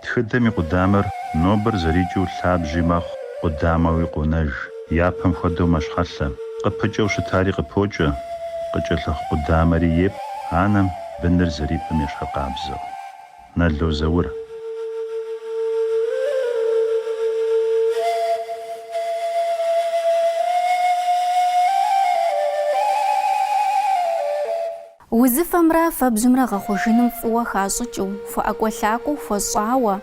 Тхыдэм и къудамэр нобэр зэрикӏыу лъабжьи мэхъу, къудамэуи къонэж. Япэм хуэдэу мэщхьэлъэ. Къыпыкӏэу щытари къыпокӏэ, къыкӏэлъыхъу къудамэри епӏ анэм быныр зэрипӏым ещхьыркъабзэу. Нало Заур. Узыфэмрэ фэбжьымрэ гъэхъужыным фӏыуэ хащӏыкӏыу, хуэӏэкӏуэлъакӏуэу хуэщӏауэ,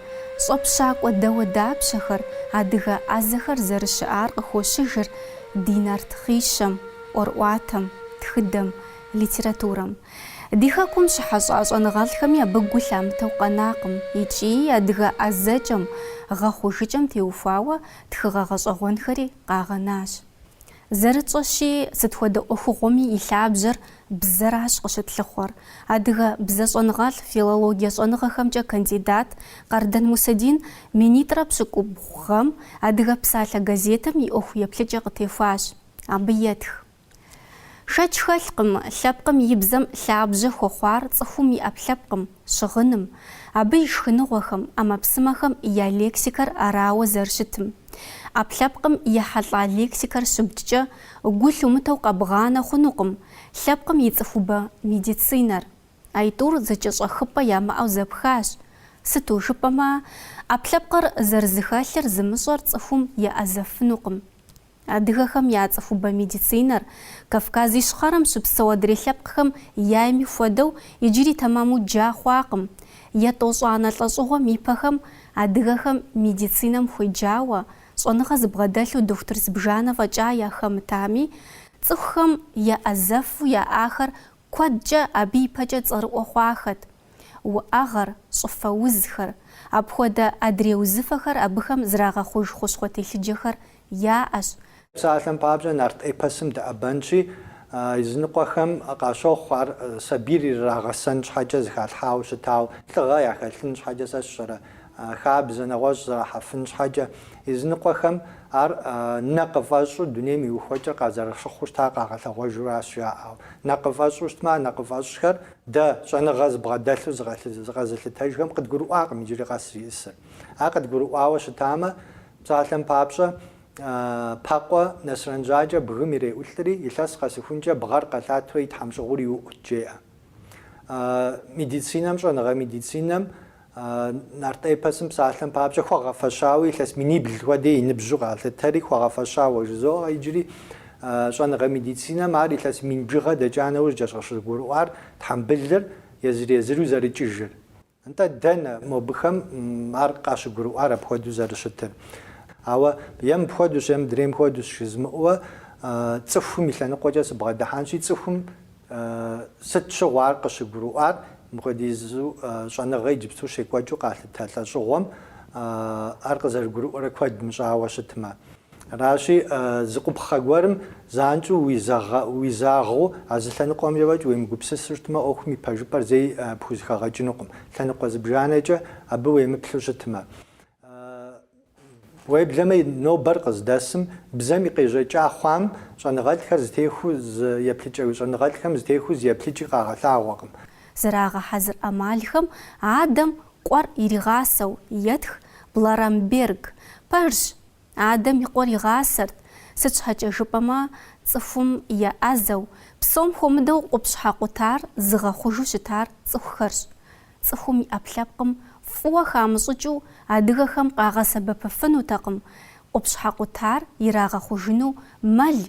щӏэпщакӏуэ дауэдапщэхэр, адыгэ ӏэзэхэр зэрыщыӏар къыхощыжыр ди нарт хъищэм, ӏуэрыӏуатэм, тхыдэм, литературэм. Ди хэкум щыхьэщӏа щӏэныгъэлӏхэми абы гу лъамытэу къэнакъым икӏи адыгэ ӏэзэкӏэм, гъэхъужыкӏэм теухуауэ тхыгъэ гъэщӏэгъуэнхэри къагъэнащ. Зэрытщӏэщи, сыт хуэдэ ӏуэхугъуэми и лъабжьэр бзэращ къыщытлъыхъуэр. Адыгэ бзэщӏэныгъэлӏ, филологие щӏэныгъэхэмкӏэ кандидат Къардэн Мусэдин минитӏрэ пщыкӏубгъу гъэм Адыгэ псалъэ газетым и ӏуэху еплъыкӏэ къытехуащ. Абы етх. Шэч хэлъкъым, лъэпкъым и бзэм лъабжьэ хуэхъуар цӏыхум и ӏэпкълъэпкъым. щыгъыным, абы и шхыныгъуэхэм, ӏэмэпсымэхэм я лексикэр арауэ зэрыщытым. ӏэпкълъэпкъым ехьэлӏа лексикэр щыбджкӏэ, гу лъумытэу къэбгъанэ хъунукъым лъэпкъым и цӏыхубэ медицинэр. Аитӏур зэкӏэщӏэхыпӏэ ямыӏэу зэпхащ. Сыту жыпӏэмэ, ӏэпкълъэпкъыр зэрызыхэлъыр зымыщӏэр цӏыхум еӏэзэфынукъым. Адыгэхэм я цӏыхубэ медицинэр, Кавказ Ищхъэрэм щыпсэу адрей лъэпкъхэм яйми хуэдэу, иджыри тэмэму джа хъуакъым. Етӏощӏанэ лӏэщӏыгъуэм и пэхэм адыгэхэм медицинэм хуеджауэ, щӏэныгъэ зыбгъэдэлъу дохутыр зыбжанэ фӏэкӏа яхэмытами, цӏыхухэм еӏэзэфу яӏахэр куэдкӏэ абы ипэкӏэ цӏэрыӏуэ хъуахэт. уӏэгъэр, щӏыфэ узхэр, апхуэдэ адрей узыфэхэр абыхэм зэрагъэхъуж хущхъуэ телъыджэхэр яӏэщ. Псалъэм папщӏэ, нарт эпосым дэӏэбэнщи, языныкъуэхэм къащохъу ар сабийр ирагъэсэн щхьэкӏэ зыхалъхьауэ щытауэ, лӏыгъэ яхэлъын щхьэкӏэ, сэ сщӏэрэ, хабзэ нэгъуэщӏ зэрахьэфын щхьэкӏэ, языныкъуэхэм ар нэкъыфӏэщӏу дунейм и ухуэкӏэр къазэрыщыхъуу щытар къагъэлъэгъуэжуращ жаӏэу. Нэкъыфӏэщӏу щытмэ, а нэкъыфӏэщӏхэр. Дэ, щӏэныгъэ зыбгъэдэлъу зыкъэзылъытэжхэм, къыдгурыӏуакъым иджыри къэс зиӏысыр. Ар къыдгурыӏуауэ щытамэ, псалъэм папщӏэ, Пэкъуэ Нэсрэн Жьакӏэ бгым иреӏулӏри, илъэс къэсыхункӏэ бгъэр къэлъатэурэ и тхьэмщӏыгъур иуӏут, жеӏэ. Медицинэм, щӏэныгъэ медицинэм, Нарт эпосым псалъэм папщӏэ, хуэгъэфэщауэ илъэс минибл хуэдэ и ныбжьу къалъытэри, хуэгъэфэщауэ жызоӏэ иджыри. Щӏэныгъэ медицинэм ар илъэс мин бжыгъэ дэкӏа нэужькӏэщ къыщыгурыӏуар тхьэмбылыр езыр-езыру зэрыкӏыжыр. Нтӏэ, дэнэ мобыхэм ар къащыгурыӏуар апхуэдэу зэрыщытыр? Ауэ е мыпхуэдэущ, е мыдрейм хуэдэущ жызмыӏэуэ, цӏыхум и лъэныкъуэкӏэ сыбгъэдыхьэнщи, цӏыхум Сыт щыгъуэ ар къыщыгурыӏуар? Мыпхуэдизу щӏэныгъэ иджыпсту щекӏуэкӏыу къалъытэ лӏэщӏыгъуэм ар къызэрыгурыӏуэрэ куэд мыщӏауэ щытмэ. Аращи, зы къупхъэ гуэрым занщӏэу уизагъэу а зы лъэныкъуэмкӏэ фӏэкӏ уемыгупсысу щытмэ, ӏуэхум и пэжыпӏэр зэи пхузыхэгъэкӏынукъым, лъэныкъуэ зыбжанэкӏэ абы уемыплъу щытмэ. Уеблэмэ нобэр къыздэсым, бзэм и къежьэкӏа хъуам щӏэныгъэлӏхэр зытехуэу зы еплъ щӏэныгъэлӏхэм зытехуэу зы еплъыкӏи къагъэлъагъуэкъым. Зэрагъэхьэзыр ӏэмалхэм адэм къуэр иригъасэу етх Бларамберг. Пэжщ, адэм и къуэр игъасэрт, сыт щхьэкӏэ жыпӏэмэ цӏыхум еӏэзэу, псом хуэмыдэу къупщхьэ къутар зыгъэхъужу щытар цӏыхухэрщ. Цӏыхум и ӏэпкълъэпкъым фӏыуэ хамыщӏыкӏыу адыгэхэм къагъэсэбэпыфынутэкъым къупщхьэ къутар ирагъэхъужыну мэл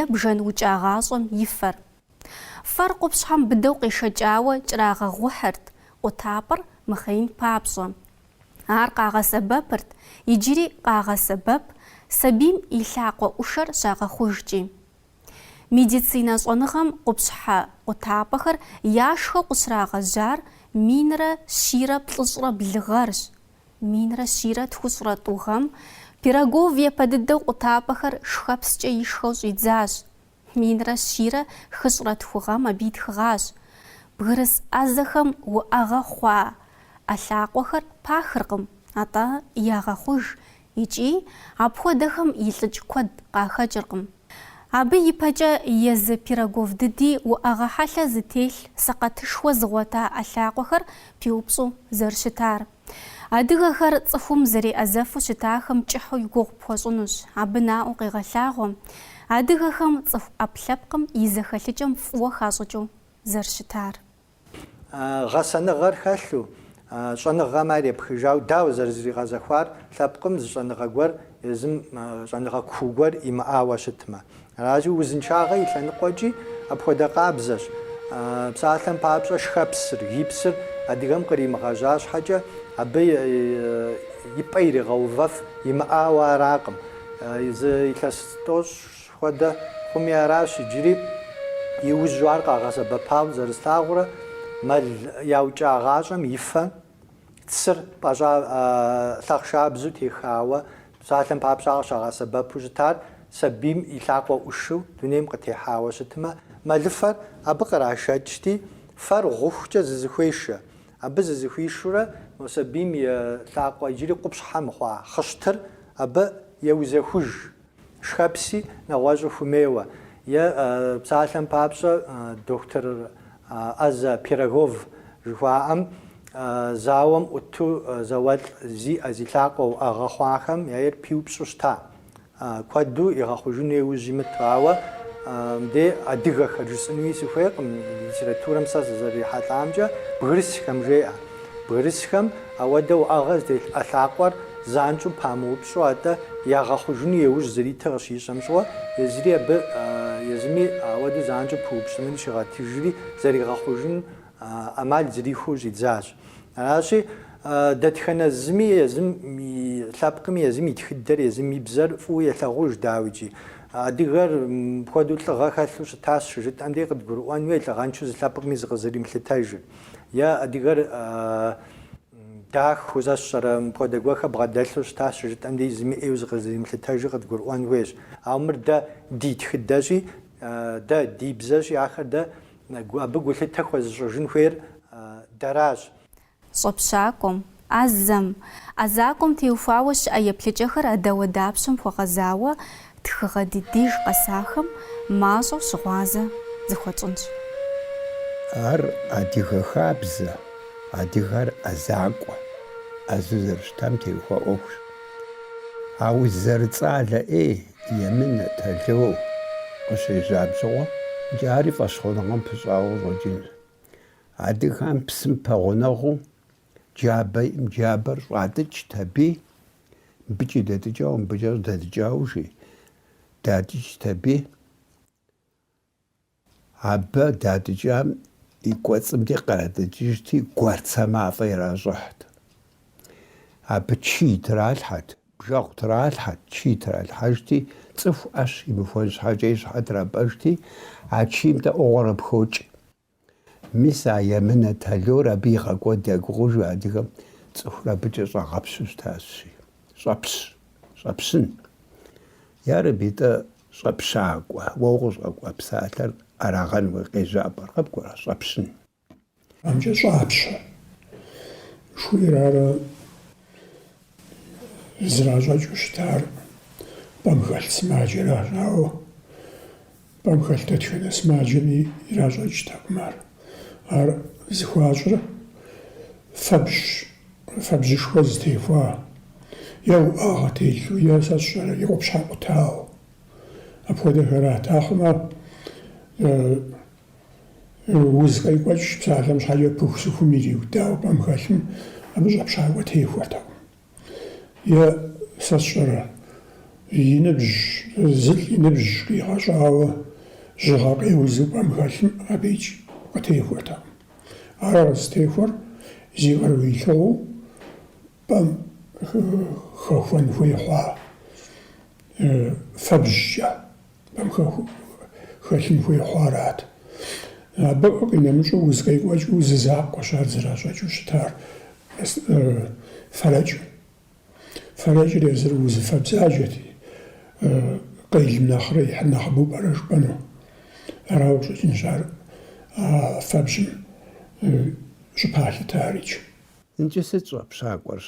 е бжэн укӏагъащӏэм и фэр. Фэр къупщхьэм быдэу къешэкӏауэ кӏэрагъэгъухьырт къутапӏэр мыхъеин папщӏэ. Ар къагъэсэбэпырт иджыри къагъэсэбэп сабийм и лъакъуэ ӏушэр щагъэхъужкӏи. Медицинэ щӏэныгъэм къупщхьэ къутапӏэхэр яшхэу къыщрагъэжьар минрэ щийрэ плӏыщӏрэ блы гъэрщ. Минрэ щийрэ тхущӏрэ тӏу гъэм Пирогов япэ дыдэу къутапӏэхэр шхэпскӏэ ишхэу щӏидзащ. Минрэ щийрэ хыщӏрэ тху гъэм абы итхыгъащ. Бгырыс ӏэзэхэм уӏэгъэ хъуа ӏэ лъакъуэхэр пахыркъым, атӏэ ягъэхъуж Икӏи апхуэдэхэм илӏыкӏ куэд къахэкӏыркъым. Абы ипэкӏэ езы Пирогов дыди уӏэгъэ хьэлъэ зытелъ сэкъэтышхуэ зыгъуэта ӏэ лъакъуэхэр пиупщӏу зэрыщытар. Адыгэхэр цӏыхум зэреӏэзэфу щытахэм кӏыхьу и гугъу пхуэщӏынущ, абы наӏуэу къегъэлъагъуэ адыгэхэм цӏыху ӏэпкълъэпкъым и зэхэлъыкӏэм фӏыуэ хащӏыкӏыу зэрыщытар. Гъэсэныгъэр хэлъу, щӏэныгъэм ар епхыжауэ, дауэ зэрызригъэзэхуар лъэпкъым зы щӏэныгъэ гуэр езым щӏэныгъэ куу гуэр имыӏауэ щытмэ. Аращи, узыншагъэ и лъэныкъуэкӏи апхуэдэ къабзэщ. Псалъэм папщӏэ, шхэпсыр, гипсыр адыгэм къримыгъэжьа щхьэкӏэ, абы и пӏэ иригъэувэф имыӏауэ аракъым. Зы илъэс тӏощӏ Хуэдэ хъуми аращ иджыри, иужьу ар къагъэсэбэпауэ зэрыслъагъурэ, мэл яукӏагъащӏэм и фэ, цыр пӏэщӏа лъахъшабзу техауэ, псалъэм папщӏэ къыщагъэсэбэпу щытар сабийм и лъакъуэ ӏушыу дунейм къытехьауэ щытмэ, мэлыфэр абы кърашэкӏти, фэр гъухукӏэ зызыхуешэ. Абы зызыхуишурэ мо сабийм и лъакъуэ иджыри къупщхьэ мыхъуа хъыщтыр абы еузэхуж. Шхэпси нэгъуэщӏу хуэмейуэ, е псалъэм папщӏэ, доктор ӏэзэ Пирогов жыхуаӏэм зауэм ӏуту зауэлӏ зи ӏэ зи лъакъуэ уӏэгъэ хъуахэм яйр пиупщӏу щыта. Куэду игъэхъужыну еужь имыту, ауэ мыдей адыгэхэр жысӏынуи сыхуейкъым, литературэм сэ сызэрырихьэлӏамкӏэ бгырысхэм жеӏэ. Бгырысхэм ауэдэ уӏэгъэ зытелъ ӏэ лъакъуэр занщӏэу памыупщӏу, атӏэ ягъэхъужыну еужь зэритыр къыщищӏэм щыгъуэ, езыри абы, езыми ауэдэу занщӏэу пыупщӏынри щигъэтыжри, зэригъэхъужын ӏэмал зэрихуэу щӏидзащ. Аращи, дэтхэнэ зыми езым и лъэпкъми, езым и тхыдэр, езым и бзэр фӏыуэ елъагъуж, дауикӏи, адыгэр мыпхуэдэу лӏыгъэ хэлъу щытащ щыжытӏэм дей къыдгурыӏуэн хуей, лӏыгъэншэу зы лъэпкъми зыкъызэримылъытэжыр. Е адыгэр дахэу узыншэрэ, мыпхуэдэ гуэрхэр бгъэдэлъу щытащ щыжытӏэм дей, зыми ӏейуэ зыкъызэримылъытэжыр къыдгурыӏуэн хуейщ. Ауэ мыр дэ ди тхыдэщи, дэ ди бзэщи, ахэр дэ абы гулъытэ хуэзыщӏыжын хуейр дэращ. Щӏэпщакӏуэм, Ӏэзэм, ӏэзакӏуэм теухуауэ щыӏэ еплъыкӏэхэр а дауэдапщэм хуэгъэзауэ тхыгъэ ди деж къэсахэм мащӏэу щыгъуазэ зыхуэтщӏынщ. Ар адыгэ хабзэ, адыгэр ӏэзакӏуэ, ӏэзэу зэрыщытам теухуа ӏуэхущ. Ауэ зэрыцӏалэ ӏей, емынэ, тало къыщежьам щыгъуэкӏэ ари фӏэщхъуныгъэм пыщӏауэ щӏэкӏынщ. Адыгэхэм псым пэгъунэгъуу Джабэ им джабэр щӏатӏыкӏт аби, мыбыкӏи дэтӏыкӏауэ, мыбыкӏэ щӏыдэтӏыкӏауэ жи, датӏыкӏт аби. Абы датӏыкӏам и кӏуэцӏым дей къратӏыкӏыжти, гуэрцэ мафӏэ иращӏыхьт. Абы чий тралъхьэт, бжэгъу тралъхьэт, чий тралъхьэжти, цӏыху ӏэщ имыхуэн щхьэкӏэ и щхьэ трапӏэжти, а чийм-тӏэ ӏугъуэрэ пхокӏ. Мис а емынэ талор абы игъэкӏуэд я гугъэжу адыгэм цӏыхур абыкӏэ щӏагъэпщу щытащи. Щӏэпщ! Щӏэпщын! Ярэби-тӏэ, щӏэпщакӏуэ, уэ укъыщӏэкӏуа псалъэр арагъэну къежьапӏэр къыбгурыӏуэрэ? Щӏэпщын! Абыкӏэ щӏапщэ! жыхуиӏэр ара зращӏэкӏыу щытар, пӏэм хэлъ сымаджэращ, ауэ Пӏэм хэлъ дэтхэнэ сымаджэми иращӏэкӏтэкъым ар. Ар зыхуащӏыр фэбжьщ, фэбжьышхуэ зытехуа, е уӏэгъэ телъу, е сэ сщӏэрэ, е къупщхьэ къутауэ. Апхуэдэхэрат. Ахъумэ уз къекӏуэкӏ псалъэм щхьэкӏэ пыху-сыхум ириудауэ пӏэм хэлъым, абы щӏэпщакӏуэ техуэртэкъым. Е сэ сщӏэрэ? И ныбжь, зылӏ и ныбжь къигъэщӏауэ жьыгъэ къеузу пӏэм хэлъым абыикӏ къытехуэртэкъым. Ар къызтехуэр зи къару илъыгъуэу пӏэм хэхуэн хуей хъуа фэбжькӏэ. Пӏэм хэ хэлъын хуей хъуарат. Абы къинэмыщӏу уз къекӏуэкӏыу зы закъуэщ ар зэращӏэкӏыу щытар, фэрэкӏым. Фэрэкӏыр езыр узыфэ бзаджэти, къелым нэхърэ ихьыр нэхъыбэу пӏэрэ жыпӏэну. Арауэ къыщӏэкӏынщ ар а фэбжьым щӏыпалъытарикӏ. Иджы сыт щӏэпщакӏуэр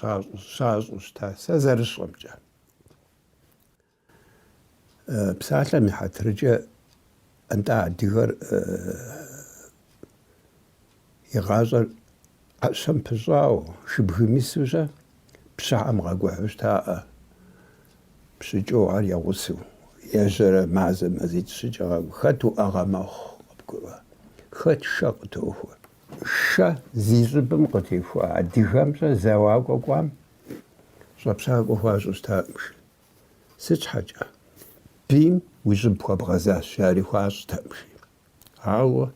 щащӏу щытар, сэ зэрысщӏэмкӏэ? Псалъэм и хьэтыркӏэ, нтӏэ адыгэр и гъащӏэр ӏэщэм пыщӏауэ, шыбгым ису щэ, пщыхьэм къикӏухьу щытаӏэ, пщыкӏэу ар я гъусэу. Ежьэрэ мазэ мазитӏ щыкӏэ къэту. Хэт уӏэгъэ мэхъу, къыбгурыӏуа, хэт шэ къытохуэ. Шэ зи щӏыбым къытехуа адыгэм щӏэ зэуакӏуэ кӏуам щӏэпщакӏуэ хуащӏу щытакъым, жи. Сыт щхьэкӏэ? Бийм уи щӏыб хуэбгъэзащ, ари хуащӏтэкъым, жи. Ауэ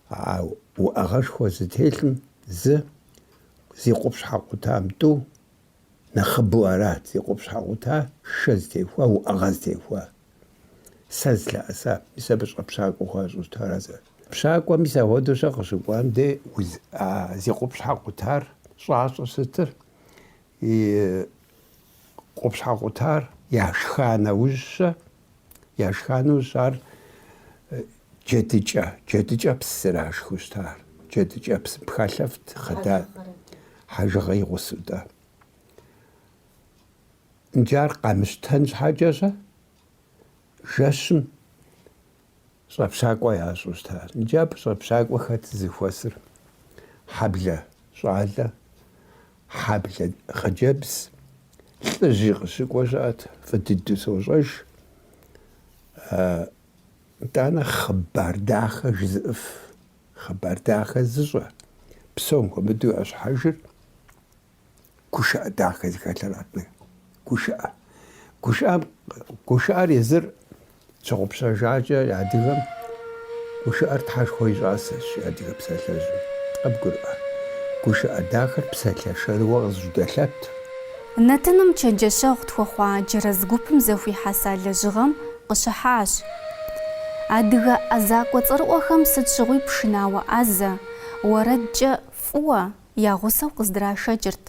а уӏэгъэшхуэ зытелъым зы зи къупщхьэ къутам тӏу нэхъыбэу арат, зи къупщхьэ къута шэ зытехуа, уӏэгъэ зытехуа. Сэ зылъэӏэса, мис абы щӏэпщакӏуэ хуащӏу щытар. А щӏэпщакӏуэ мис ахуэдэу щэ къыщыкӏуам де а зи къупщхьэ къутар щӏащӏэу сытыр, и Къупщхьэ къутар яшха нэужьщэ, яшха нэужь ар джэдыкӏэ, джэдыкӏэпс зэрашхыу щытар. Джэдыкӏэпс пхэлъэфт хъыдан хьэжыгъэ и гъусэу-тӏэ. Иджы ар къэмыщтэн щхьэкӏэщэ жэщым Щӏэпщакӏуэ ящӏу щыта? Иджы абы щӏэпщакӏуэ хэт зыхуэсыр? Хьэблэ щӏалэ, хьэблэ хъыджэбз, лӏыжьи къыщыкӏуэ щыӏэт, фӏы дыдэу сощӏэж. Итӏанэ хъыбар дахэ жызыӏыф, хъыбар дахэ зыщӏэ, псом хуэмыдэу ящхьэжыр. Гушыӏэ дахэ зыхэлъырат. Гушыӏэ. Гушыӏэ, гушыӏэр езыр щыгъупщэжакӏэ адыгэм гушыӏэр тхьэшхуэ и щӏасэщ адыгэ псалъэжьым. Къэбгурыӏуэ. Гушыӏэ дахэр псалъэ шэрыуэ къызыжьэдэлъэт. Нэтыным чэнджэщэгъу тхуэхъуа джэрэз гупым зэхуихьэса лэжьыгъэм къыщыхьащ. Адыгэ ӏэзакӏуэ цӏэрыӏуэхэм сыт щыгъуи пшынауэ ӏэзэ, уэрэдкӏэ фӏыуэ, я гъусэу къыздрашэкӏырт.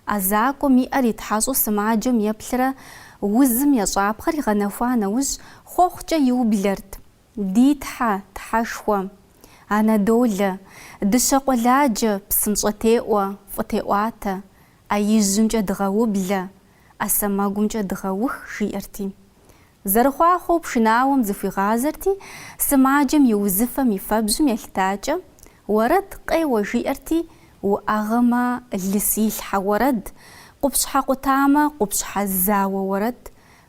ӏэзакӏуэм и ӏэр итхьэщӏу сымаджэм еплърэ узым ещӏапхъэр игъэнэхуа нэужь, хъуэхъукӏэ иублэрт, Ди Тхьэ, Тхьэшхуэ! Анэдолэ! Дыщэ къуэладжэ, псынщӏэ теӏуэ, фӏы теӏуатэ! ӏэ ижьымкӏэ дыгъэублэ, ӏэ сэмэгумкӏэ дыгъэух! жиӏэрти. Зэрыхъуахъуэу пшынауэм зыхуигъазэрти, сымаджэм и узыфэм и фэбжьым елъытакӏэ, уэрэд къеуэ жиӏэрти, уӏэгъэмэ, лыс илъхьэ уэрэд, къупщхьэ къутамэ, къупщхьэ зауэ уэрэд,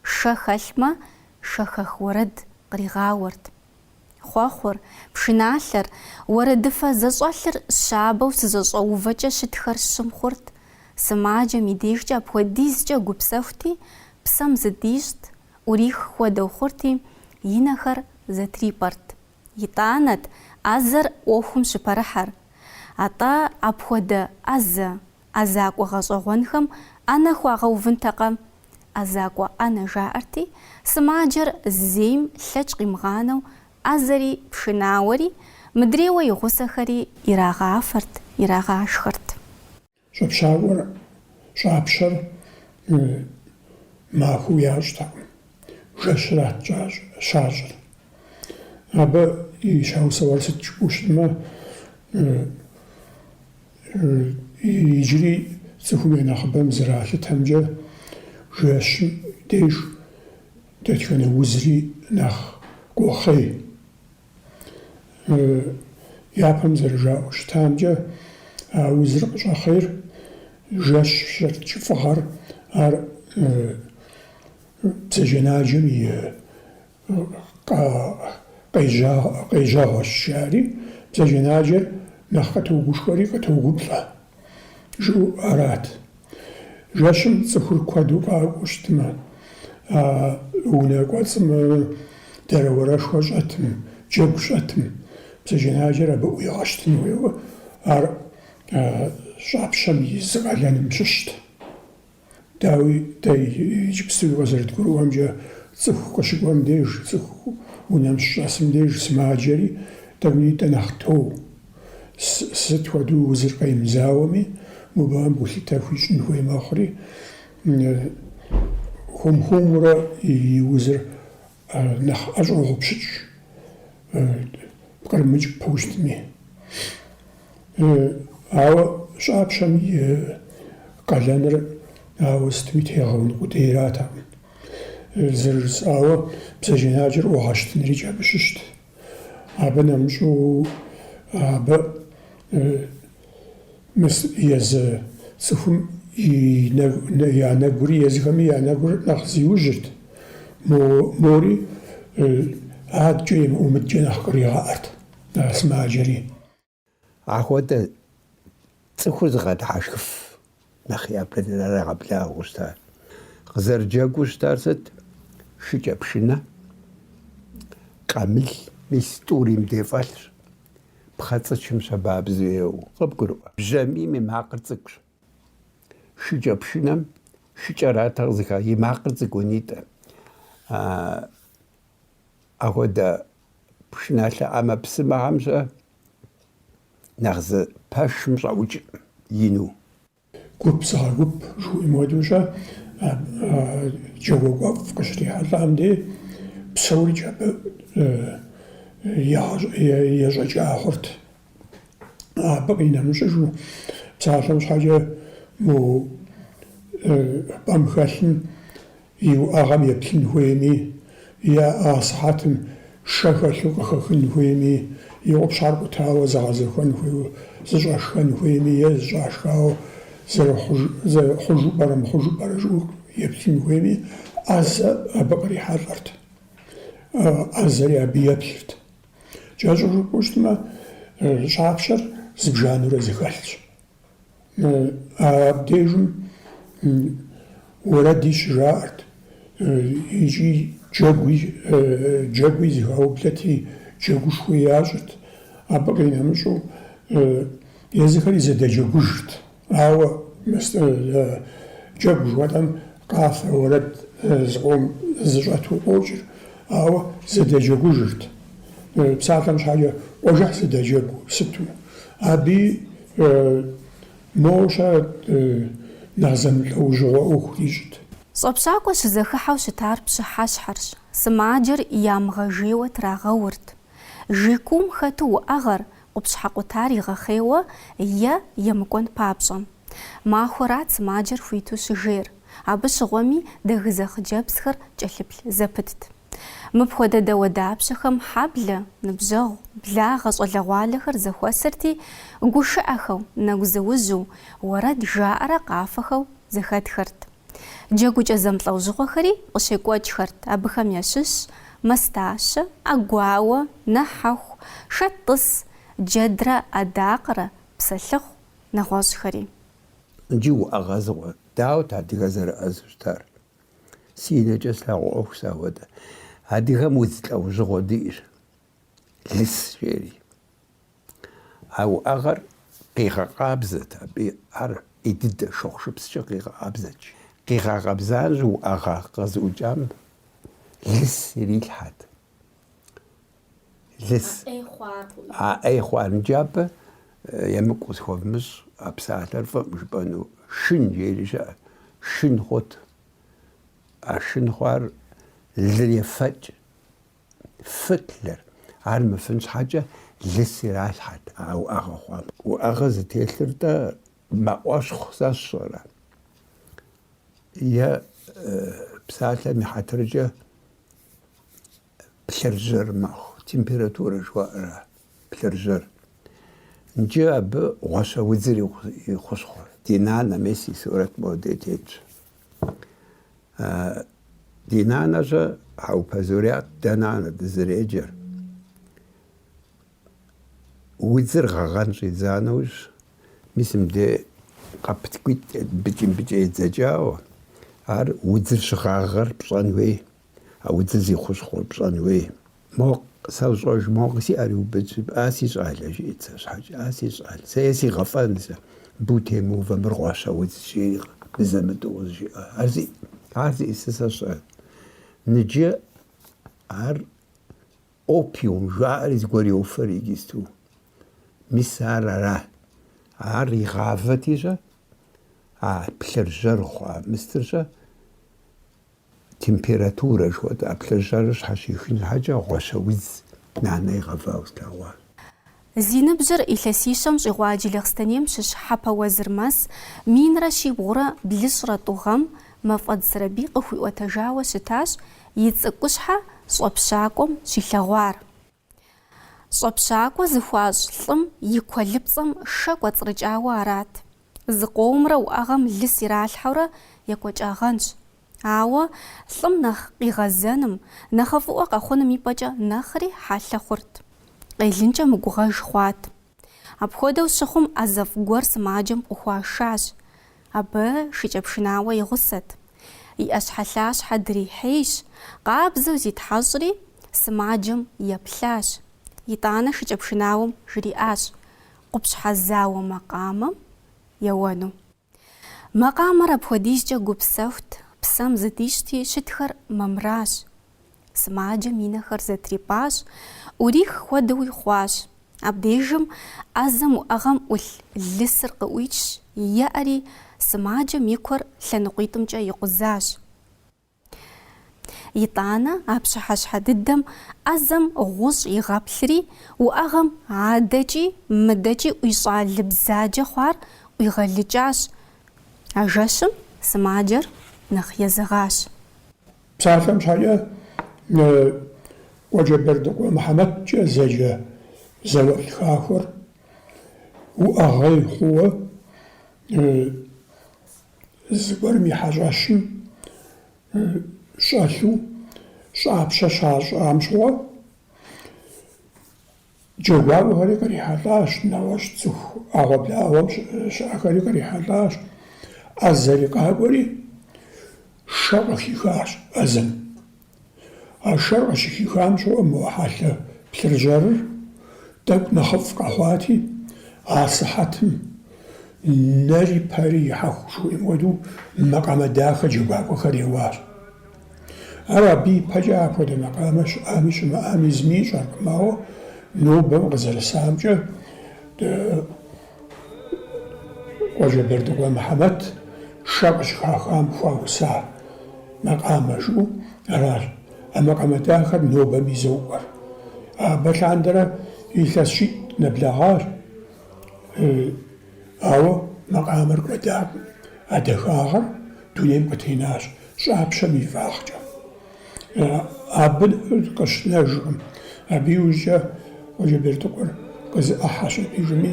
шэ хэлъмэ, шэхэх уэрэд къригъауэрт. Хъуэхъур, пшыналъэр, уэрэдыфэ зэщӏэлъыр щабэу щызэщӏэувэкӏэ щытхэр щым хъурт, сымаджэм и дежкӏэ апхуэдизкӏэ гупсэхути, псэм зыдищӏт, ӏурих хуэдэу хъурти, и нэхэр зэтрипӏэрт. Итӏанэт ӏэзэр ӏуэхум щыпэрыхьэр. Атӏэ апхуэдэ ӏэзэ ӏэзакӏуэ гъэщӏэгъуэнхэм ӏэнэ хуагъэувынтэкъэ? ӏэзакӏуэ ӏэнэ жаӏэрти, сымаджэр зейм лъэкӏ къимыгъанэу ӏэзэри пшынауэри, мыдрейуэ и гъусэхэри ирагъафэрт, ирагъашхэрт. Щӏэпщакӏуэр, щӏапщэр махуэу ящӏтэкъым, жэщырат щащӏыр. Абы и щхьэусыгъуэр сыт жыпӏэу щытмэ, Иджыри цӏыхум я нэхъыбэм зэралъытэмкӏэ, жэщым деж дэтхэнэ узри нэхъ къохъей. Япэм зэрыжаӏэу щытамкӏэ, а узыр къыщӏэхъейр жэщыр кӏыфӏыгъэр, ар бзаджэнаджэм и Къежьэгъуэщ, жаӏэри, бзаджэнаджэр нэхъ къытогушхуэри къытогуплӏэ, жыӏэу арат. Жэщым цӏыхур куэду къакӏуэу щытмэ, а унэ кӏуэцӏым дэрэуэрэшхуэ щӏэтым, джэгу щӏэтым, бзаджэнаджэр абы ӏуигъэщтын хуейуэ, ар щӏапщэм и зы къалэным щыщт. Дауи, дэ иджыпсту къызэрыдгурыӏуэмкӏэ, цӏыху къыщыкӏуэм деж, цӏыху унэм щыщӏэсым деж сымаджэри, дауи нтӏэ нэхъ тоу. Сыт хуэдэу узыр къемызауэми, мыбыхэм гулъытэ хуищӏын хуей мэхъури, хуэм-хуэмурэ и узыр Нэхъ ӏэщӏогъупщыкӏ пкърымыкӏыпэу щытми. Ауэ щӏапщэм и къалэныр ауэ сытми тегъэун къудейратэкъым. Зэрыжысӏауэ бзаджэнаджэр ӏугъэщтынрикӏ абы щыщт. Абы нэмыщӏу абы мыс езы цӏыхум я нэгури, езыхэми я нэгур нэхъ зиужьырт, мори адкӏэ емыӏэу мыдкӏэ нэхъ къригъаӏэрт а сымаджэри. Ахуэдэ цӏыхур зыгъэдыхьэшхыф нэхъ япэ драгъэблагъэу щыта. Къызэрыджэгуу щытар сыт? Шыкӏэ пшынэ, къамыл, мис тӏури мыдей фӏэлъщ, пхъэцӏычым щабабзу еуэу. Къыбгурыӏуэ, бжьамийм и макъыр цӏыкӏущ. Шыкӏэ пшынэм шыкӏэрат къызыха, и макъыр цӏыкӏунитӏэ. Ахуэдэ Пшыналъэ ӏэмэпсымэхэмкӏэ нэхъ зы пэшым щӏэӏукӏыну. Гуп зыгъэгуп жыхуиӏэм хуэдэу-щэ, джэгуакӏуэфӏ къыщрихьэлӏам дей псорикӏ абы ещӏэкӏа хъурт. Абы къинэмыщӏыжу, псалъэм щхьэкӏэ мо пӏэм хэлъым и уӏэгъэм еплъын хуейми, е а сыхьэтым шэ хэлъу къыхэхын хуейми, и къупщхьэр къутауэ зэгъэзэхуэн хуейуэ, зыщӏэшхэн хуейми е зыщӏашхауэ хъужу пӏэрэ-мыхъужу пӏэрэ жыӏэу еплъын хуейми, ӏэзэ абы кърихьэлӏэрт, ӏэзэри абы еплъырт. Кӏэщӏу жыпӏэу щытмэ, щӏапщэр зыбжанэурэ зэхэлъщ. Абдежым уэрэди щыжаӏэрт икӏи джэгуи джэгуи зыхаублэти, джэгушхуи ящӏырт. Абы къинэмыщӏу езыхэри зэдэджэгужырт. Ауэ джэгу жыхуэтӏэм къафэ уэрэд зыкъом зыщӏэту къокӏыр, ауэ зэдэджэгужырт. Псалъэм щхьэкӏэ къуажэхь зэдэджэгу сыту. Абы моуэ-щэ нэхъ зэмылӏэужьыгъуэ ӏуэху ирищӏт. Щӏэпщакӏуэ щызэхыхьэу щытар пщыхьэщхьэрщ, сымаджэр ямыгъэжейуэ трагъэурт. Жей куум хэту уӏэгъэр, къупщхьэ къутар игъэхъейуэ е емыкӏуэн папщӏэ. Махуэрат сымаджэр хуиту щыжейр, абы щыгъуэми дэгызэ хъыджэбзхэр кӏэлъыплъ зэпытт. Мыпхуэдэ дауэдапщэхэм хьэблэ, ныбжьэгъу, благъэ щӏалэгъуалэхэр зэхуэсырти, гушыӏэхэу, нэгузыужьу, уэрэд жаӏэрэ къафэхэу зэхэтхэрт. Джэгукӏэ зэмылӏэужьыгъуэхэри къыщекӏуэкӏхэрт, абыхэм ящыщщ мастащэ, ӏэгуауэ, нэхьэху, шэттӏыс, джэдрэ адакъэрэ, псэлъыхъу, нэгъуэщӏхэри. Иджы уӏэгъэ зыгъуэ, дауэт адыгэ зэрыӏэзэу щытар? Си нэкӏэ слъэгъуа ӏуэхущ сэ ахуэдэ. Адыгэм удз лӏэужьыгъуэ диӏэщ, лыс жери. А уӏэгъэр къигъэкъабзэт, абы ар ӏей дыдэ шыгъушыпскӏэ къигъэкъабзэт. Къигъэкъэбза нэужь уӏэгъэ къэзыӏукӏам лыс ирилъхьэт. Лыс. А ӏей хъуар. Нджы абы емыкӏу къысхуэвмыщӏ а псалъэр фӏым жыпӏэну. Шын жери щыӏэт. Шын хъут. А шын хъуар лыр ефэкӏ. фыт лыр. Ар мыфын щхьэкӏэ лыс иралъхьэт а уӏэгъэ хъуам. Уӏэгъэ зытелъыр-тӏэ мэӏуэщхъу сэ сщӏэрэ е псалъэм и хьэтыркӏэ плъыржьэр мэхъу, температурэ жыхуаӏэрэ плъыржьэр. Нджы абы гъуэщэ удзыр и хущхъуэр. Ди нанэ мес и сурэт моде тетщ. Ди нанэ-щэ, Хьэупэ Зурят, дэ нанэ дызэреджэр. Удзыр гъэгъэн щӏидза нэужь, мис мыде къэп тӏэкӏуитӏ абыкӏи-мыбыкӏи едзэкӏауэ, ар удзыр щыгъагъэр пщӏэн хуей, а удзыр зи хущхъуэр пщӏэн хуей. Мо къэсщӏэж, мо си ӏэр иубыдщ, а си щӏал, а жиӏэт сэ щхьэкӏэ, а си щӏал, сэ е сигъэфӏэн сэ, абы утемыувэ, мыр гъуэщэ удз, жери абы зэмытӏэу къызжиӏэ. Ар зи, ар зиӏысыр сэ сщӏэ. Ныджы ар опиум жаӏэри зыгуэр йофэр иджысту. Мис ар ара? Ар игъавэти-щэ, а плъыржьэр хъуа мыстыр-щэ, Температурэ жыхуэтӏэ плъыржьэрыр щхьэщихын щхьэкӏэ гъуэщэ удз нанэ игъэвауэ слъэгъуащ. Зи ныбжьыр илъэсищэм щӏигъуа Джылэхъстэнейм щыщ Хьэпэ Уэзырмэс минрэ щибгъурэ блыщӏрэ тӏу гъэм Мафӏэдз Сэрэбий къыхуиӏуэтэжауэ щытащ и цӏыкӏущхьэ щӏэпщакӏуэм щилъэгъуар. Щӏэпщакӏуэ зыхуащӏ лӏым и куэлыпцӏэм шэ кӏуэцӏрыкӏауэ арат. Зыкъомрэ уӏэгъэм лыс иралъхьэурэ екӏуэкӏагъэнщ. Ауэ лӏым нэхъ къигъэзэным, нэхъыфӏыӏуэ къэхъуным и пӏэкӏэ нэхъри хьэлъэ хъурт. Къелынкӏэ мыгугъэж хъуат. Апхуэдэу щыхъум, ӏэзэфӏ гуэр сымаджэм къыхуашащ. Абы шыкӏэпшынауэ и гъусэт. И ӏэщхьэлъащхьэ дрихьейщ, къабзэу зитхьэщӏри, сымаджэм еплъащ. Итӏанэ шыкӏэпшынауэм жриӏащ къупщхьэ зауэ макъамэм еуэну. Макъамэр апхуэдизкӏэ гупсэхут, псэм зыдищти, щытхэр мамыращ. Сымаджэм и нэхэр зэтрипӏащ, ӏурих хуэдэуи хъуащ. Абдежым ӏэзэм уӏэгъэм ӏулъ лысыр къыӏуичщ, еӏэри, сымаджэм и куэр лъэныкъуитӏымкӏэ икъузащ. Итӏанэ а пщыхьэщхьэ дыдэм ӏэзэм гъущӏ игъэплъри, уӏэгъэм адэкӏи мыдэкӏи ӏуищӏа лы бзаджэ хъуар ӏуигъэлыкӏащ. А жэщым сымаджэр нэхъ езыгъащ. Псалъэм щхьэкӏэ Къуэджэбэрдыкъуэ Мыхьэмэткӏэ зэджэ зауэлӏ хахуэр уӏэгъэ хъууэ Зыгуэрым и хьэщӏэщым щӏэлъу щӏапщэ щащӏам щыгъуэ джэгуакӏуэхэри кърихьэлӏащ, нэгъуэщӏ цӏыху ӏэгъуэблагъуэм щыӏэхэри кърихьэлӏащ. ӏэзэри къакӏуэри, шэ къыхихащ ӏэзэм. А шэр къыщыхихам щыгъуэ мо хьэлъэ плъыржьэрыр тӏэкӏу нэхъыфӏ къэхъуати, а сыхьэтым нэри пэри ихьэхуу жыхуиӏэм хуэдэу макъамэ дахэ джэгуакӏуэхэр еуащ. Ар абы ипэкӏэ апхуэдэ макъамэ щыӏами щымыӏами зыми ищӏэркъым, ауэ нобэм къызэрысамкӏэ, Къуажэбэрдыкъуэ Мыхьэмэт шэ къыщыхахам хуауса макъамэ жыӏэу аращ, а макъамэ дахэр нобэми зокӏуэр. Абы лъандэрэ илъэс щитӏ нэблэгъащ, ауэ макъамэр кӏуэдакъым, а дахагъэр дунейм къытенащ щӏапщэм и фӏыгъэкӏэ. Абы къыщынэжкъым. Абы иужькӏэ Къуэджэбердыкъуэр къызэӏыхьэщ абы ижыми,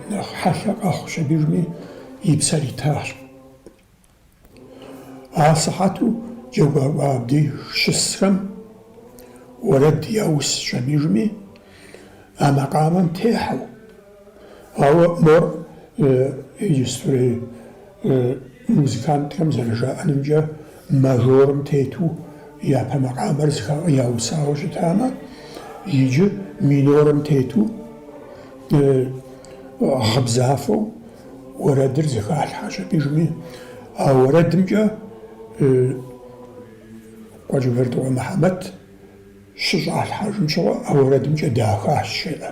нэхъ хьэлъэ къэхъущ абы ижыми, и псэр итащ. Асыхьэту джэгуакӏуэ абдеж щысхэм уэрэд яусщ абы ижыми, а макъамэм техьэу. Ауэ мор иджыстрей музыкантхэм зэрыжаӏэнымкӏэ, мажорым тету япэ макъамэр яусауэ щытамэ, иджы минорым тету гъыбзафэу уэрэдыр зыхалъхьэщ абы ижыми. А уэрэдымкӏэ Къуэджэбердыкъуэ Мыхьэмэт щыщӏалъхьэжым щыгъуэ а уэрэдымкӏэ дахащ жеӏэ.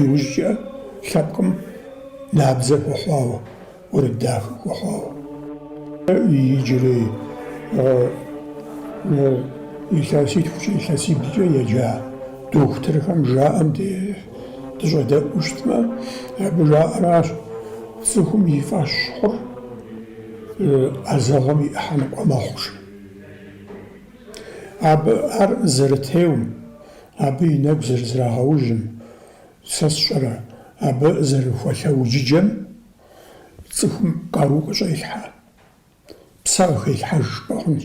Иужькӏэ лъэпкъым набдзэ хуэхъуауэ, уэрэд дахэ хуэхъуауэ. Иджырей илъэситхукӏэ, илъэсиблкӏэ еджа дохутырхэм жаӏэм дыщӏэдэӏуу щытмэ, абы жаӏэращ, цӏыхум и фӏэщ хъур ӏэзэгъуэм и ӏыхьэ ныкъуэ мэхъу, жи. Абы ар зэрытеум. Абы и нэгу зэрызрагъэужьым, сэ сщӏэрэ, абы зэрыхуэлъэуджыджэм цӏыхум къару къыщӏелъхьэ, псэ къыхелъхьэж жыпӏэ хъунщ.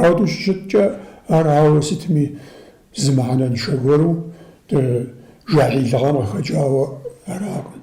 Ауэдэу щыщыткӏэ, ар ауэ сытми зы мыхьэнэншэ гуэру джахьилыгъэм къыхэкӏауэ аракъым.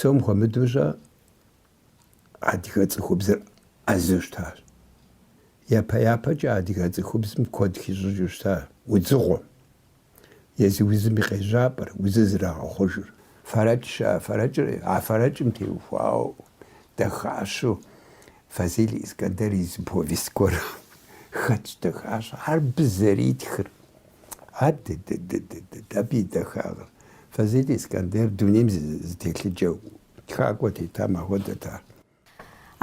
псом хуэмыдэущэ адыгэ цӏыхубзыр ӏэзэу щытащ. Япэ-япэкӏэ адыгэ цӏыхубзым куэд хищӏыкӏыу щыта удзыгъуэм. Езы узым и къежьапӏэр, узыр зэрагъэхъужыр. Фэрэкӏщ а фэрэкӏыр, а фэрэкӏым теухуауэ дахащэу Фазиль Искандер и зы повесть гуэр хэтщ, дахащ. Ар абы зэритхыр. Адыдыдыдыдыд, абы и дахагъыр. Фазиль Искандер дунейм зы телъыджэ тхакӏуэ тетам ахуэдэт ар.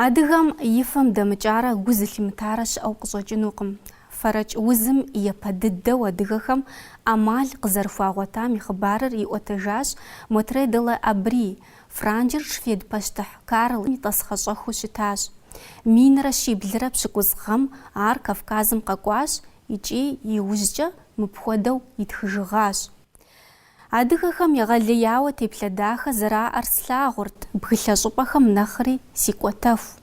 Адыгэм и фэм дэмыкӏарэ гу зылъимытарэ щыӏэу къыщӏэкӏынукъым. Фэрэкӏ узым япэ дыдэу адыгэхэм ӏэмал къызэрыхуагъуэтам и хъыбарыр иӏуэтэжащ Мотрэ де ла Абри. Франджыр швед пащтыхь Карл и тӏасхъэщӏэхыу щытащ. Минрэ щиблрэ пщыкӏуз гъэм ар Кавказым къэкӏуащ икӏи иужькӏэ мыпхуэдэу итхыжыгъащ. Адыгэхэм егъэлеяуэ теплъэ дахэ зэраӏэр слъагъурт бгылъэ щӏыпӏэхэм нэхъри сикӏуэтэху.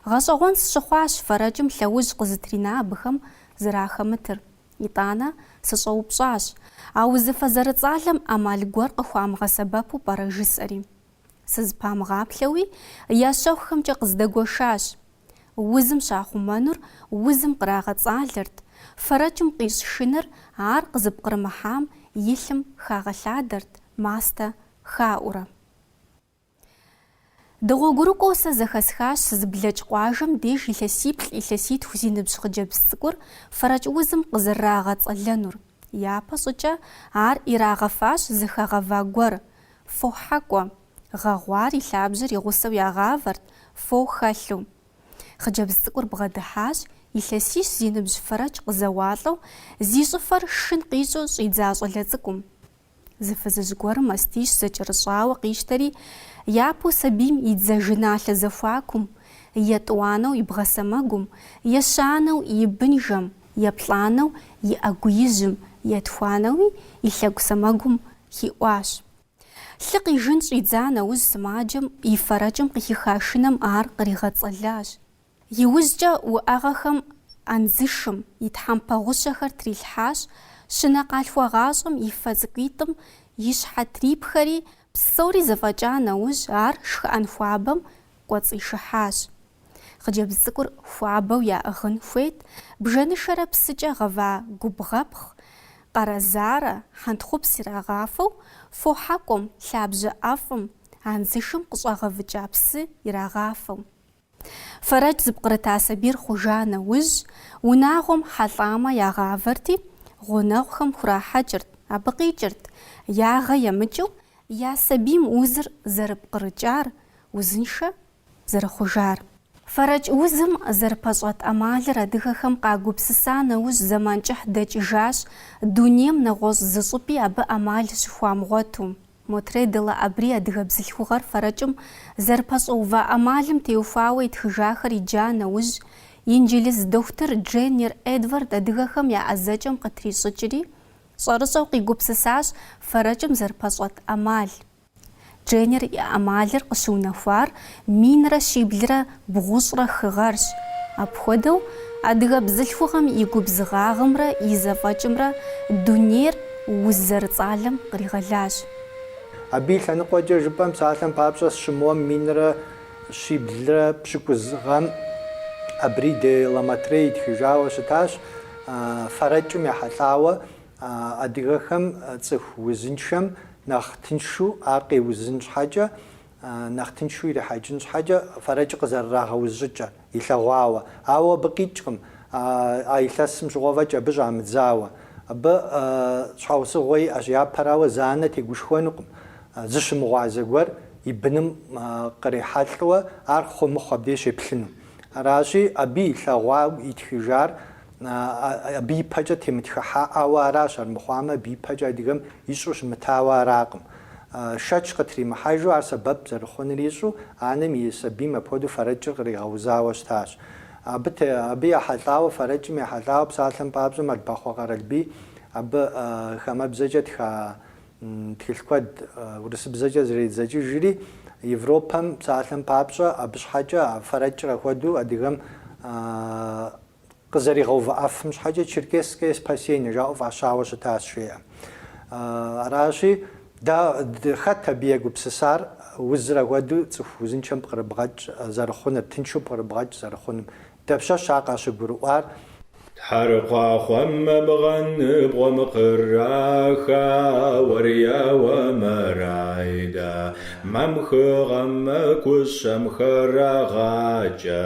Гъэщӏэгъуэн сщыхъуащ фэрэкӏым лъэужь къызытрина абыхэм зэрахэмытыр. Итӏанэ, сыщӏэупщӏащ, а узыфэ зэрыцӏалэм ӏэмал гуэр къыхуамыгъэсэбэпу пӏэрэ жысӏэри. Сызыпамыгъаплъэуи, я щэхухэмкӏэ къыздэгуэшащ. Узым щахъумэнур узым кърагъэцӏалэрт, фэрэкӏым къищӏ шыныр ар къызыпкърымыхьам и лъым хагъэлъадэрт мастэ хаӏуурэ. Дыгъуэгурыкӏуэу сэ зэхэсхащ сызыблэкӏ къуажэм деж илъэсиплӏ-илъэситху зи ныбжь хъыджэбз цӏыкӏур фэрэкӏ узым къызэрырагъэцӏэлэнур. Япэ щӏыкӏэ ар ирагъэфащ зэхэгъэва гуэр, фохьэкӏуэ. Гъэгъуар и лъабжьэр и гъусэу ягъавэрт, фо хэлъу. Хъыджэбз цӏыкӏур бгъэдыхьащ, илъэсищ зи ныбжь фэрэкӏ къызэуалӏэу, зи щӏыфэр шын къищӏу щӏидза щӏалэ цӏыкӏум. Зы фызыжь гуэрым мастищ зэкӏэрыщӏауэ къищтэри, япэу сабийм и дзажэналъэ зэхуакум, етӏуанэу и бгъэ сэмэгум, ещанэу и бынжэм, еплӏанэу и ӏэгу ижьым, етхуанэуи и лъэгу сэмэгум хиӏуащ. Лъы къижын щӏидза нэужь сымаджэм и фэрэкӏым къыхиха шыным ар къригъэцӏэлащ. Иужькӏэ уӏэгъэхэм андзышым и тхьэмпэ гъущэхэр трилъхьащ, щынэ къалъхуагъащӏэм и фэ цӏыкӏуитӏым и щхьэ трипхэри, псори зэфӏэкӏа нэужь ар шхыӏэн хуабэм кӏуэцӏишыхьащ. Хъыджэбз цӏыкӏур хуабэу яӏыгъын хуейт, бжэнышэрэ псыкӏэ гъэва губгъэпхъ, къэрэзарэ, хьэнтхъупс ирагъафэу, фохьэкӏуэм, лъабжьэ ӏэфӏым, анзышым къыщӏагъэвыкӏа псы ирагъафэу. Фэрэкӏ зыпкърыта сабийр хъужа нэужь, унагъуэм хьэлӏамэ ягъавэрти, гъунэгъухэм хурахьэкӏырт, абы къикӏырт, ягъэ емыкӏыу я сабийм узыр зэрыпкърыкӏар, Узыншэ зэрыхъужар. Фэрэкӏ узым зэрыпэщӏэт ӏэмалыр адыгэхэм къагупсыса нэужь зэман кӏыхь дэкӏыжащ, дунейм нэгъуэщӏ зы щӏыпӏи абы ӏэмал щыхуамыгъуэту. Мотрей де ла Абри адыгэ бзылъхугъэр фэрэкӏым зэрыпэщӏэува ӏэмалым теухуауэ итхыжахэр иджа нэужь, инджылыз дохутыр Дженнер Эдвард адыгэхэм я ӏэзэкӏэм къытрищӏыкӏри, щӏэрыщӏэу къигупсысащ фэрэкӏым зэрыпэщӏэт ӏэмал. Дженнер и ӏэмалыр къыщыунэхуар минрэ щиблрэ бгъущӏрэ хы гъэрщ. Апхуэдэу, адыгэ бзылъхугъэм и губзыгъагъымрэ и зэфӏэкӏымрэ дунейр уз зэрыцӏалэм къригъэлащ. Абы и лъэныкъуэкӏэ жыпӏэм псалъэм папщӏэ сыщымыуэм минрэ щиблрэ пщыкӏуз гъэм Абри де ла Мотрей итхыжауэ щытащ, фэрэкӏым ехьэлӏауэ Адыгэхэм цӏыху узыншэм нэхъ тыншу ар къеузын щхьэкӏэ, нэхъ тыншу ирихьэкӏын щхьэкӏэ фэрэкӏ къызэрырагъэуз щӏыкӏэр илъэгъуауэ. Ауэ абы къикӏкъым, а илъэсым щыгъуэ фӏэкӏ абы щӏамыдзауэ. Абы щхьэусыгъуэ иӏэщ, япэрауэ, зы анэ тегушхуэнукъым, зыщымыгъуазэ гуэр и быным кърихьэлӏэу ар хъу мыхъу абдей щеплъыну. Аращи, абы илъэгъуауэ итхыжар Абы ипэкӏэ темытхыхьаӏауэ аращ, армыхъуамэ, абы ипэкӏэ адыгэм ищӏэу щымытауэ аракъым. Шэч къытримыхьэжу, ар сэбэп зэрыхъуныр ищӏэу, анэм и сабийм апхуэдэу фэрэкӏыр къригъэузауэ щытащ. Абы абы ехьэлӏауэ, фэрэкӏым ехьэлӏауэ псалъэм папщӏэ Мэлбахъуэ Къэралбий абы хамэбзэкӏэ тха тхылъ куэд урысыбзэкӏэ зэридзэкӏыжри, Европэм псалъэм папщӏэ абы щхьэкӏэ фэрэкӏыр ахуэдэу адыгэм Къызэригъэувыӏэфым щхьэкӏэ Черкесское спасение жаӏэу фӏащауэ щытащ, жеӏэ. Аращи, дэ, хэт абы егупсысар, узыр ахуэдэу цӏыху узыншэм пкърыбгъэкӏ зэрыхъуныр, тыншу пкърыбгъэкӏ зэрыхъунум? Дапщэщ ар къащыгурыӏуар? Тхьэрыкъуахъуэмэ мыгъэныбгъуэм къыраха уэрияуэ мэрайдэ, мамхыгъэм мыкӏущэм хырагъакӏэ,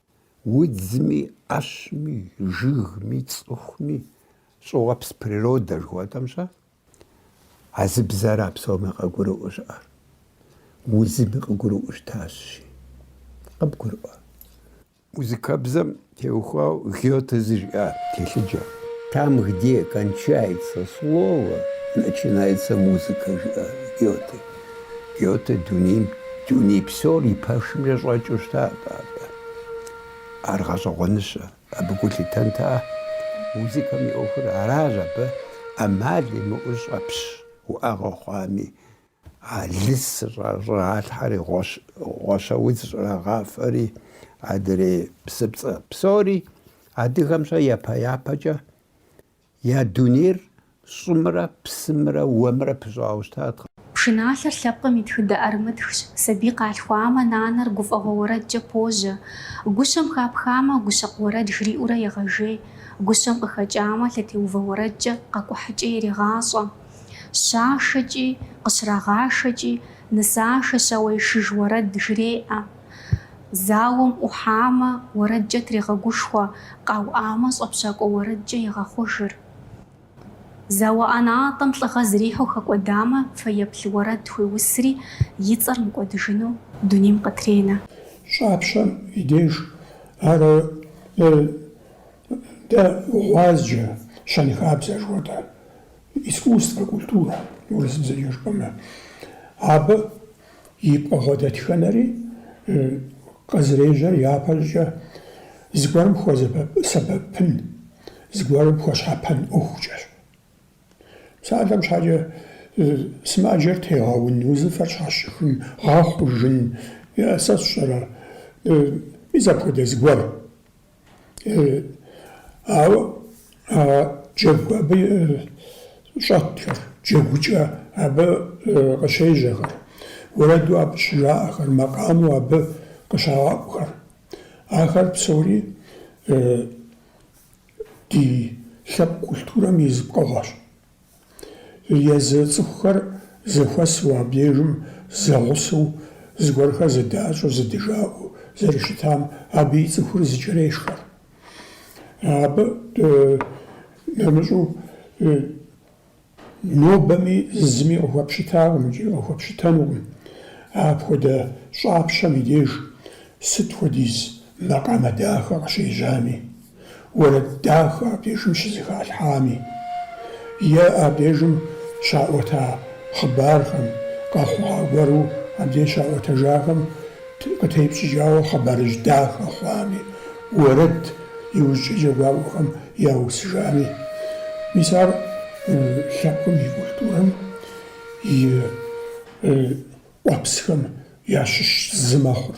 Удзми, ӏэщми, жыгми, цӏыхуми, щӏыуэпс природэ жыхуэтӏэм щэ, а зы бзэра псоми къыгурыӏуэу щыӏэр? Узыми къыгурыӏуэу щытащи, къыбгурыӏуэ. Музыкэбзэм теухуауэ Гёте зы жиӏа телъыджэ. Там, где кончается слово, начинается музыка, жиӏа Гёте. Гёте дунейм, дуней псор и пэшымкӏэ щӏэкӏыу щытат атӏэ. Ар гъэщӏэгъуэныщэ, абы гу лъитэнтэ. Музыкэм и ӏуэхур аращ абы ӏэмал имыӏэу щӏэпщ уӏэгъэ хъуами. А лыс щӏалъхьэри, гъуэщэ удз щӏрагъафэри, адрей псыпцӏэ псори адыгэм щэ япэ-япэкӏэ Я дунейр щӏымрэ псымрэ уэмрэ пыщӏауэ щытатэкъэ. Пшыналъэр лъэпкъым и тхыдэ ӏэрымытхщ, сабий къалъхуамэ, нанэр гуфӏэгъуэ уэрэдкӏэ пожьэ. Гущэм хапхамэ, гущэкъу уэрэд жриӏэурэ егъэжей, гущэм къыхэкӏамэ, лъэтеувэ уэрэдкӏэ къэкӏухьыкӏэ ирегъащӏэ. Щашэкӏи, къыщрагъашэкӏи, нысашэ щауэишыж уэрэд жреӏэ. Зауэм ӏухьамэ, уэрэдкӏэ трегъэгушхуэ, къауӏамэ, щӏэпщакӏуэ уэрэдкӏэ егъэхъужыр. Зауэ ӏэнатӏэм лӏыгъэ зрихьу хэкӏуэдамэ, фэеплъ уэрэд хуеусри, и цӏэр мыкӏуэдыжыну дунейм къытренэ. Щӏапщэм и деж ар дэ гъуазджэ, щэнхабзэ жыхуэтӏэр, искусствэ, культурэ, урысыбзэкӏэ жыпӏэмэ. Абы И пкъыгъуэ дэтхэнэри къызэрежьэр япэщӏыкӏэ зыгуэрым хуэсэбэпын, зыгуэрым хуэщхьэпэн ӏуэхукӏэщ. Псалъэм щхьэкӏэ сымаджэр тегъэун, узыфэр щхьэщыхын, гъэхъужын, сэ сщӏэрэ, мис апхуэдэ зыгуэр. Ауэ а джэгу абы щӏэтхэр, джэгукӏэ абы къыщежьэхэр, уэрэду абы щыжаӏэхэр, макъамэу абы къыщагъэӏухэр, ахэр псори ди, ди лъэпкъ культурэм и зы пкъыгъуэщ. Езы цӏыхухэр зэхуэсу абдежым зэгъусэу, зыгуэрхэр зыдащӏэу, зыдыжаӏэу зэрыщытам, абы и цӏыхур зыкӏэрешхэ. Абы нэмыщӏу нобэми зыми къыхуэпщытакъым икӏи къыхуэпщытэнукъым апхуэдэ щӏапщэм и деж сыт хуэдиз макъамэ дахэ къыщежьами. уэрэд дахэ абдежым щызэхалъхьами, е абдежым щаӏуэта хъыбархэм, къэхъуа гуэру абдеж щаӏуэтэжахэм къытепщӏыкӏауэ хъыбарыжь дахэ хъуами, уэрэд иужькӏэ джэгуакӏуэхэм яусыжами. Мис ар лъэпкъым и культурэм и къуэпсхэм ящыщ зы мэхъур.